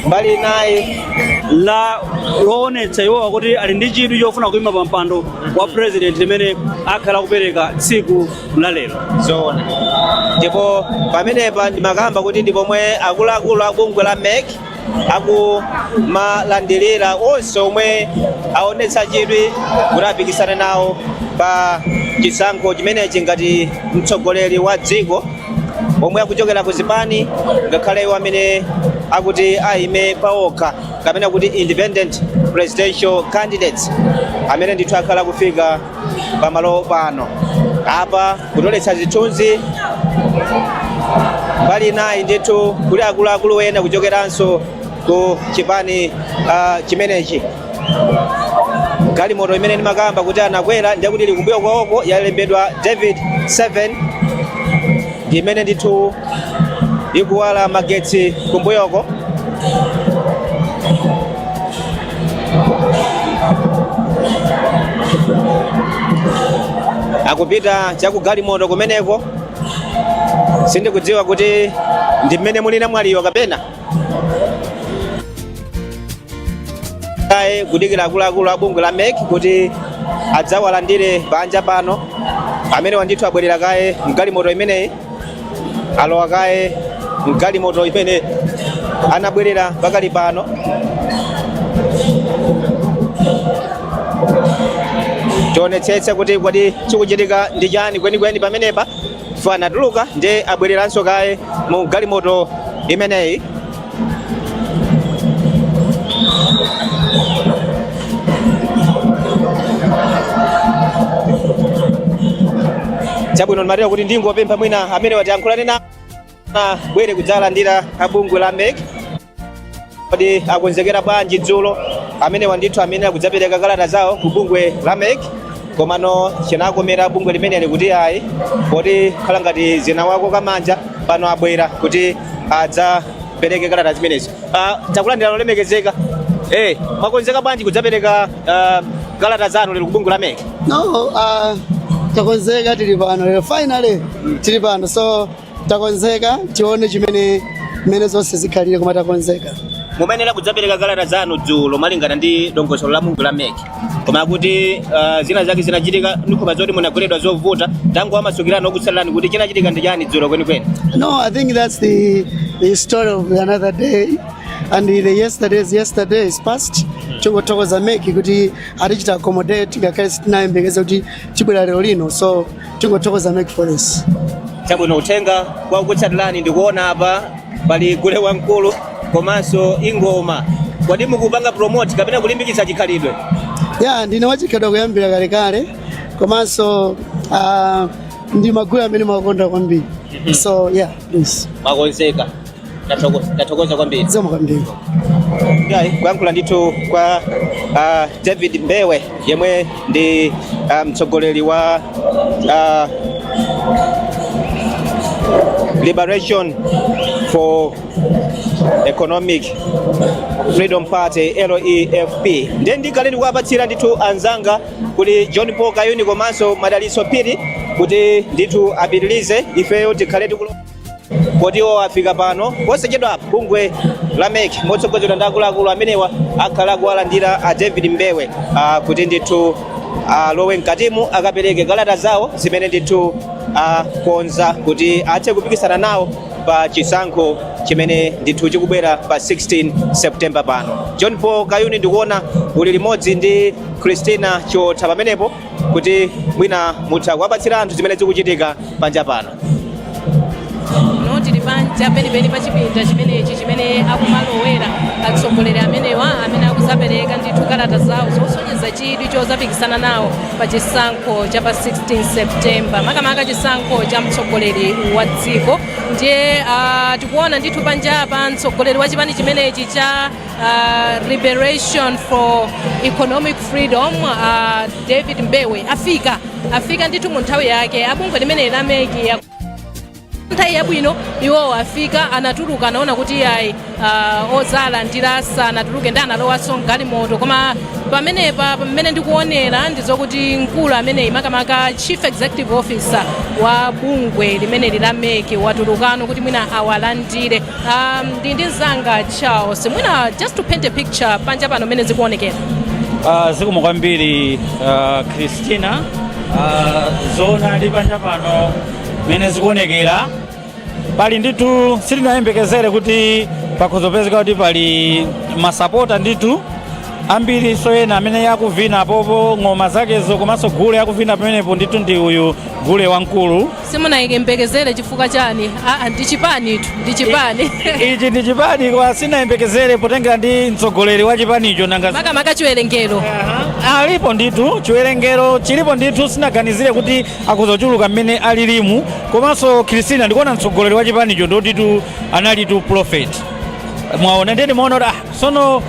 mbali inayi zoonetsa iwowa kuti ali ndi chidwi chofuna kuima pa mpando wa president limene akhale akupereka tsiku la lero zoona ndipo pamenepa ndimakamba kuti ndi pomwe akuluakulu a bungwe la mec akumalandirira onse omwe aonetsa chidwi kuti apikisane nawo pa chisankho chimenechi ngati mtsogoleri wa dziko omwe akuchokera ku zipani ngakhale iwo amene akuti aime paokha kapena kuti independent presidential candidates amene ndithu akhala kufika pamalo pano apa kutoletsa zithunzi mbali inayi ndithu kuli akuluakulu ena kuchokeranso ku chipani ah, chimenechi galimoto imene ndimakamba kuti anakwera ndiye kuti ili kumbuyo kwawoko yalembedwa david 7 ndi imene ndithu ikuwala magetsi kumbuyoko akupita chakugalimoto kumeneko sindikudziwa kuti ndi mmene muli a namwaliyo kapena kaye kudikira akuluakulu a bungwe la mec kuti adzawalandire panja pano amenewa ndithu abwerera kaye mgalimoto imeneyi alowa kaye mgalimoto imene anabwerera pakali pano tionetsetse kuti kodi chikuchitika ndi chani kwenikweni pamenepa chifukwa anatuluka nde abwereranso kaye mu galimoto imeneyi chabwino ndimatero kuti ndingopempha mwina amenewa tiyankhulane asanabwere kudzalandira abungwe la mek kodi akonzekera bwanji dzulo amenewa ndithu amene akudzapereka kalata zawo ku bungwe la mec komano chinawakomera bungwe limeneli kuti ayi poti khala ngati zinawakoka manja pano abwera kuti adzapereke kalata zimenezi Ah, takulandirani olemekezeka eh mwakonzeka bwanji kudzapereka ah, kalata zanu lero ku bungwe la mec no uh, takonzeka tili pano lero finally tili pano so Takonzeka tione chimene mmene zonse zikhalire koma takonzeka. mumayenera kudzapereka kalata zanu dzulo malingana ndi dongosolo la bungwe la mek koma kuti uh, zina zake zinachitika ndi nkhawa zoti munagweredwa zovuta tangowamasukirani okutsatirani kuti chinachitika ndi chani dzulo kwenikweni No, I think that's the the story of another day and the yesterday's yesterday is past. Tongothokoza mek kuti atichita accommodate ngakhale sitinayembekeze kuti tibwera lero lino so tingothokoza MEC for this chabwino uthenga kwa okutsatirani ndikuona apa pali gule wamkulu komanso ingoma kodi mukupanga promote kapena kulimbikitsa chikhalidwe ya ndine wachikhalidwe kuyambira kalekale komanso ah, ndi magule amene ndimakonda kwambiri so yeah please mwakonzeka Ndathokoza ndathokoza kwambiri. zikomo kwambiri Ngai kuyankhula ndithu kwa ah, David Mbewe yemwe ndi ah, mtsogoleri wa ah, Liberation for Economic Freedom Party LEFP ndiye ndikhale ndikuwapatsira ndithu anzanga kuli John Paul Kayuni komanso Madalitso Phiri kuti ndithu apitilize ifeyo tikhale tikulo kodi iwo afika pano posachedwa bungwe la mec motsogozedwa ndi akuluakulu amenewa akhala kuwalandira a david mbewe ah, kuti ndithu alowe mkatimu akapereke kalata zawo zimene ndithu akonza kuti athe kupikisana nawo pa chisankho chimene ndithu chikubwera pa 16 september pano john paul kayuni ndikuona uli limodzi ndi christina chiotha pamenepo kuti mwina mutha kuwapatsira anthu zimene zikuchitika panja pano no tili panja penipeni pa chipinda chimenechi chimene akumalowera atsogoleri amenewa amene akuzapereka ndithu kalata zawo zosonyeza chidwi chozapikisana nawo pa chisankho cha pa 16 septemba makamaka chisankho cha mtsogoleri wa dziko ndiye uh, tikuona ndithu panjapa mtsogoleri wa chipani chimenechi cha uh, liberation for economic freedom uh, david mbewe afika afika ndithu mu nthawi yake abungwe limeneli la meki nthawi yabwino iwowo afika anatuluka anaona kuti iyayi uh, ozalandira sanatuluke ndiye analowanso mgalimoto koma pamenepa pamene ndikuonera ndizokuti mkulu ameneyi makamaka chief executive officer wa bungwe limeneli la meki watulukano kuti mwina awalandire Um, ndili ndi mzanga charles mwina just to paint a picture panja pano mmene zikuonekera Uh, zikomo kwambiri uh, christina uh, zoonadi panja pano mmene zikuonekera pali ndithu sitinayembekezere kuti pakhoza kupezeka kuti pali masapota ndithu ambirinso ena amene akuvina pompo ng'oma zakezo komanso gule akuvina pamenepo ndithu ndi uyu gule wamkulu Simunayembekezere chifukwa chani? Aa ndi chipanitu ndi chipani. Ichi ndi chipani koma sinayembekezere potengera ndi mtsogoleri wa chipanicho nanga Makamaka chiwerengero. alipo ndithu chiwerengero chilipo ndithu sinaganizire kuti akhoza kuchuluka mmene alilimu komanso Christina ndikuona mtsogoleri wa chipanicho ndi wotitu analitu prophet mwaona ndiye ndimaona kuti ah, Sono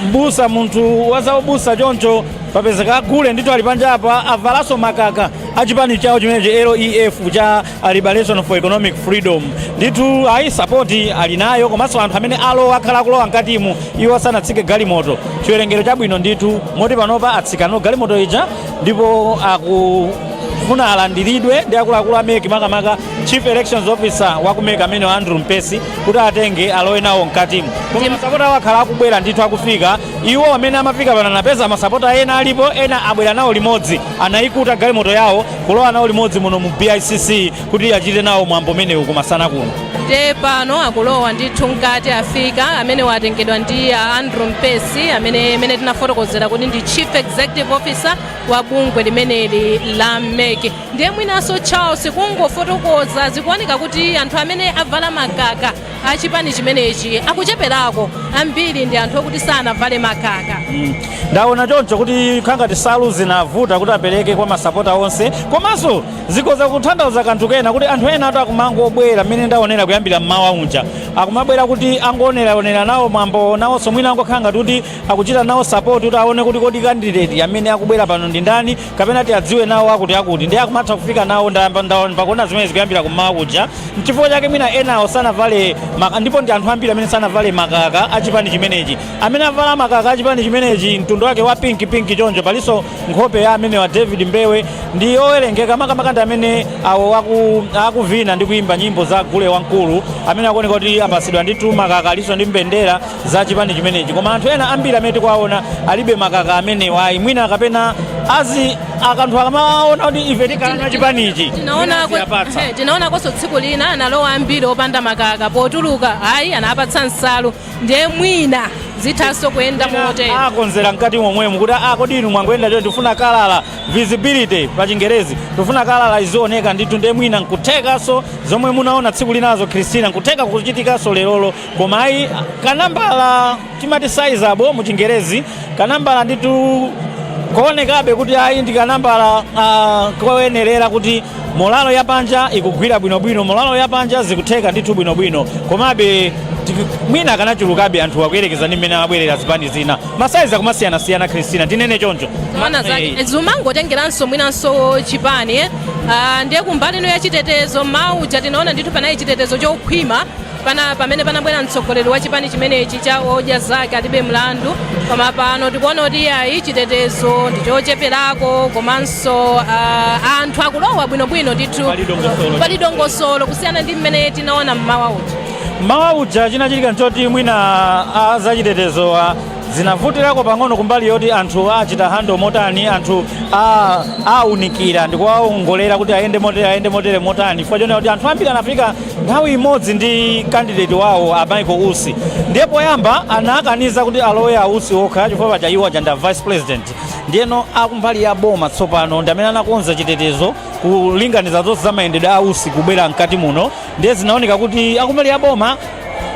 mbusa munthu wa zaubusa choncho papezeka agule ndithu ali panja apa avalaso makaka a chipani chawo chimenechi LEF cha Liberation for Economic Freedom ndithu ayi sapoti ali nayo komanso anthu amene alowa akhala akulowa mkatimu iwo asanatsike galimoto chiwerengero chabwino ndithu moti panopa atsika mu galimoto ija ndipo akufuna alandiridwe ndi akuluakulu a MEC makamaka chief elections officer wa ku MEC amene wa andrew mpesi kuti awatenge alowe nawo mkatimu koma masapota awo akhala akubwera ndithu akufika iwo amene amafika pano anapeza masapota ena alipo ena abwera nawo limodzi anayikuta galimoto yawo kulowa nawo limodzi muno mu bicc kuti achite nawo mwambo umenewu kumasana kuno nde pano akulowa ndithu mkati afika amene atengedwa ndi a andrew mpesi amene amene tinafotokozera kuti ndi chief executive officer wa bungwe limeneli la mec Ndiye mwinanso Charles kungofotokoza zikuoneka kuti anthu amene avala makaka a chipani chimenechi akucheperako, ambiri ndi anthu okuti sanavale makaka. Ndaona choncho kuti kukhala ngati nsalu zinavuta kuti apereke kwa masapota onse komanso zikhoza kutanthauza kanthu kena kuti anthu enatu akumangobwera mmene ndaonera kuyambira mmawa uja akumabwera kuti angooneraonera nawo mwambowo nawonso mwina angokhala ngati kuti akuchita nawo sapoti kuti aone kuti kodi kandideti amene akubwera pano ndi ndani kapena tiadziwe nawo akuti akuti ndiye akumatha kufika nawo pakuona zimene zikuyambira kummawa kuja mchifukwa chake mwina enawo sanavale maka- ndipo ndi anthu ambiri amene sanavale makaka a chipani chimenechi amene avala makaka a chipani chimenechi mtundu wake wa pinki pinki choncho palinso nkhope ya amene wa david mbewe ndi owerengeka makamaka ndi amene awo aku- akuvina ndi kuimba nyimbo za gule wamkulu amene akuoneka kuti apasidwa ndithu makaka alinso ndi mbendera za chipani chimenechi koma anthu ena ambiri amene tikuwaona alibe makaka amenewa ayi mwina kapena azi akanthu akamaona kuti ife tikalowa chipanichi tinaona mwina aziwapatsa. ehe, tinaonakonso tsiku lina analowa ambiri opanda makaka potuluka ayi anapatsa nsalu ndiye mwina zithanso kuyenda motero akonzera mkati momwemo kuti kodi inu mwangoyenda choncho tifuna kalala visibility pa chingerezi tifuna kalala izioneka ndithu ndiye mwina nkuthekanso zomwe munaona tsiku linazo christina nkutheka kuchitikanso lerolo koma ayi kanambala timati sizable mu chingerezi kanambala ndithu koonekabe kuti ayi ndi kanambala uh, koyenerera kuti molalo ya panja ikugwira bwinobwino molalo ya panja zikutheka ndithu bwinobwino komabe tiki- mwina akanachulukabe anthu akuyerekeza ndi mmene amabwerera zipani zina masaizi akumasiyanasiyana kristina tinene choncho Zoona Eh, zake zimangotengeranso mwinanso chipani eh? Ah, ndiye kumbali ino ya chitetezo mmawa uja tinaona ndithu panali chitetezo chokhwima pamene panabwera mtsogoleri wa chipani chimenechi cha odya zake alibe mlandu koma pano tikuona kuti iyayi chitetezo ndi chocheperako komanso uh, anthu akulowa bwinobwino ndithu pali dongosolo kusiyana ndi mmene tinaona mmawa uja mmawa uja chinachitika nchoti mwina azachitetezo zinavutirako pang'ono kumbali yoti anthu awachita hando motani anthu awaunikira ndi kuwaongolera kuti ayende motere motani chifukwa chonena kuti anthu ambiri anafika nthawi imodzi ndi kandideti wawo a michael usi ndiye poyamba anakaniza kuti alowe a usi okha chifukwa paja iwo aja ndi a vice president ndiyeno akumbali ya boma tsopano ndi amene anakonza chitetezo kulinganiza zonse za mayendedwe a usi kubwera mkati muno ndiye zinaoneka kuti akumbali ya boma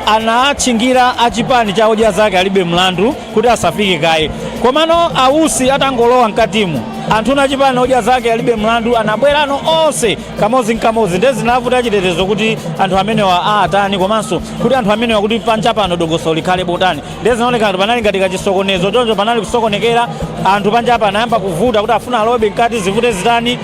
anatchingira a chipani cha odya zake alibe mlandu kuti asafike kaye komano ausi atangolowa mkatimu anthuno a chipani odya zake alibe mlandu anabwerano onse kamodzi nkamodzi ndiye zinavuta achitetezo kuti anthu amenewa awatani komanso kuti anthu amenewa kuti panja pano dongosolo likhale botani ndiye zinaoneka ngati panali ngati kachisokonezo choncho panali kusokonekera anthu panja apa anayamba kuvuta kuti afuna alowebe mkati zivute zitani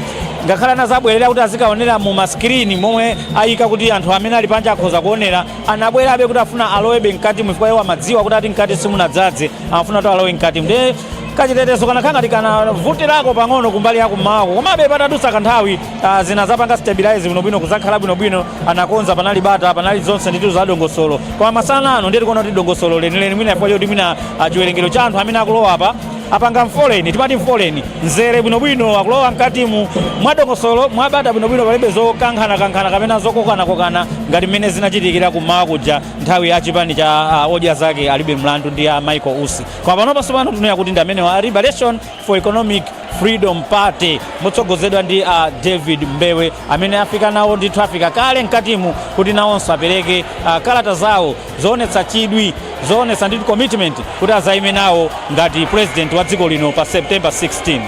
ngakhale anazabwerera kuti azikaonera mu masikirini momwe ayika kuti anthu amene ali panja akhoza kuonera anabwerabe kuti afuna alowebe mkati chifukwa iwo amadziwa kuti ati mkati simunadzadze amafuna kuti alowe mkati ndiye kachitetezo kanakhala ngati kanavutirako pang'ono kumbali yakummawako komabe patadutsa kanthawi Ah, zinazapanga stabilize bwinobwino kuzakhala bwinobwino anakonza panali bata panali zonse ndithu za dongosolo koma masana ano ndiye tikuona kuti dongosolo lenileni mwina chifukwa choti mwina ah, chiwerengero cha anthu amene akulowa apa apanga mfoleni timati mfoleni nzere bwinobwino akulowa mkatimu mwa dongosolo mwabata bwinobwino palibe zokankhanakankhana kapena zokokanakokana ngati mmene zinachitikira kummawa kuja nthawi ya chipani cha ah, odya zake alibe mlandu ndi a michael usi koma panopa tsopano tinena kuti ndi amenewa a liberation for Economic Freedom Party motsogozedwa ndi a uh, David Mbewe amene afika nawo ndithu afika kale mkatimu kuti nawonso apereke uh, kalata zawo zoonetsa chidwi zoonetsa ndithu commitment kuti azayime nawo ngati president wa dziko lino pa September 16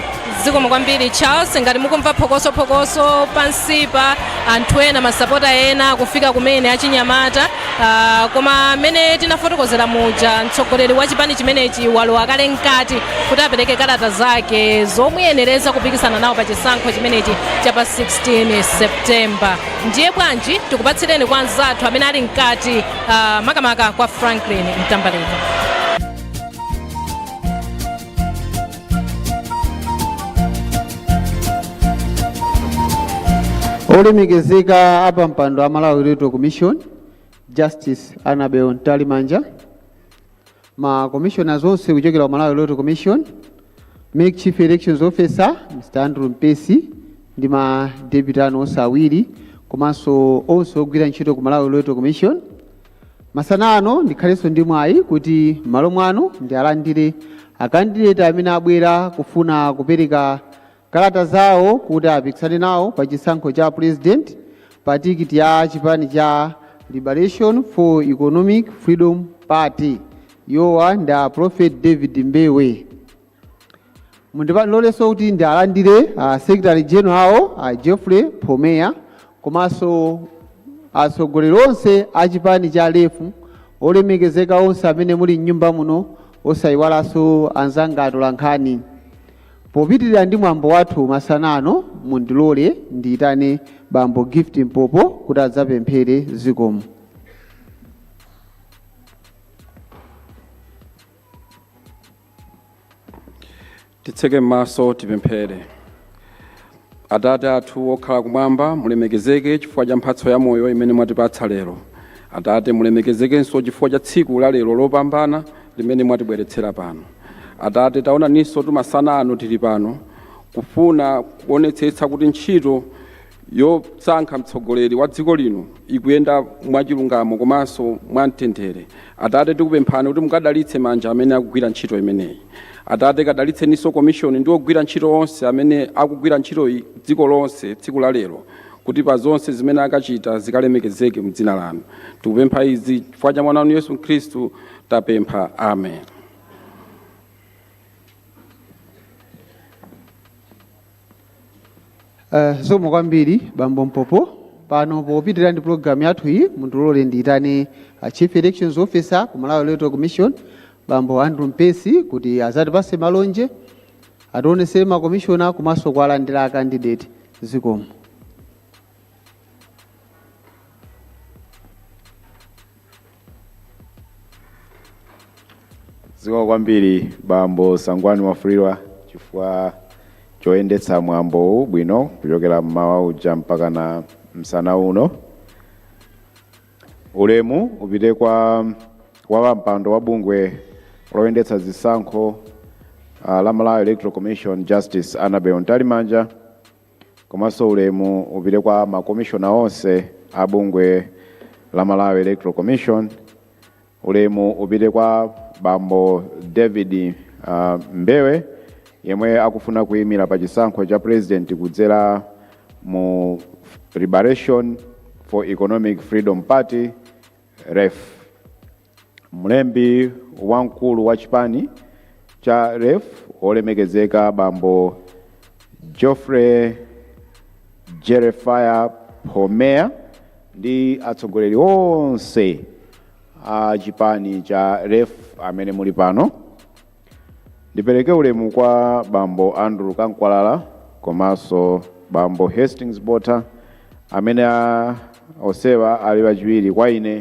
zikomo kwambiri charles ngati mukumva phokosophokoso pansipa anthu ena masapota ena kufika kumene achinyamata Ah, koma mmene tinafotokozera muja mtsogoleri wa chipani chimenechi walowa kale mkati kuti apereke kalata zake zomuyenereza kupikisana nawo pa chisankho chimenechi cha pa 16 septemba ndiye bwanji tikupatsireni kwa anzathu amene ali mkati ah, makamaka kwa franklin mtambalika olemekezeka apa mpando wa malawi electoral commission justice anabel mtalimanja ma commissioners onse kuchokera ku malawi electoral commission mec chief elections officer mr andrew mpesi ndi ma deputy anu onse awiri komanso onse ogwira ntchito ku malawi electoral commission Masana ano ndikhalenso ndi mwayi kuti m'malo mwanu ndialandire akandideti amene abwera kufuna kupereka kalata zawo kuti apikisane nawo pa chisankho cha Purezidenti pa tikiti ya chipani cha Liberation for Economic Freedom Party. Iwowa ndi a Prophet David Mbewe. mundilolenso kuti ndialandire a secretary general a Geoffrey Phomeya komanso atsogoleri onse a chipani cha lef olemekezeka onse amene muli mnyumba muno osayiwalanso anzanga atolankhani popitirira ndi mwambo wathu masana ano mundilole ndiyitane bambo gift mpopo kuti adzapemphere zikomo Titseke maso tipemphere. Atate athu okhala kumwamba, mulemekezeke chifukwa cha mphatso ya moyo imene mwatipatsa lero. Atate, mulemekezekenso chifukwa cha tsiku la lero lopambana limene mwatibweretsera pano. Atate, taonaninso tumasana ano tili pano kufuna kuonetsetsa kuti ntchito yosankha mtsogoleri wa dziko lino ikuyenda mwachilungamo komanso mwamtendere atate tikupemphani kuti mukadalitse manja amene akugwira ntchito imeneyi atate kadalitseninso komishoni ndi ogwira ntchito onse amene akugwira ntchito dziko lonse tsiku la lero kuti pa zonse zimene akachita zikalemekezeke mu dzina lanu tikupempha izi chifukwa cha mwana wanu yesu khristu tapempha amen Uh, zikomo kwambiri bambo mpopo pano popitirira ndi pulogalamu yathu iyi mundilole ndiyitane uh, chief elections officer ku malawi electoral commission bambo andrew mpesi kuti azatipase malonje ationesere makomishona komanso kuwalandira akandidate zikomo zikomo kwambiri bambo sangwani mwafulirwa chifukwa choyendetsa mwambowu bwino kuchokera mmawa uja mpaka na msana uno ulemu upite kwa wapampando wa bungwe loyendetsa zisankho uh, la malawi electoral commission justice annabel mtalimanja komanso ulemu upite kwa ma commissioner onse a bungwe la Malawi Electoral Commission, ulemu upite kwa bambo David uh, Mbewe yemwe akufuna kuyimira pa chisankho cha president kudzera mu Liberation for Economic Freedom Party LEF Mlembi wamkulu wa chipani cha LEF wolemekezeka bambo Geoffrey Jeremiah Phomea ndi atsogoleri onse a chipani cha LEF amene muli pano. Ndipereke ulemu kwa bambo Andrew Kankwalala komanso bambo Hastings Bota amene a- onsewa ali achiwiri kwa ine.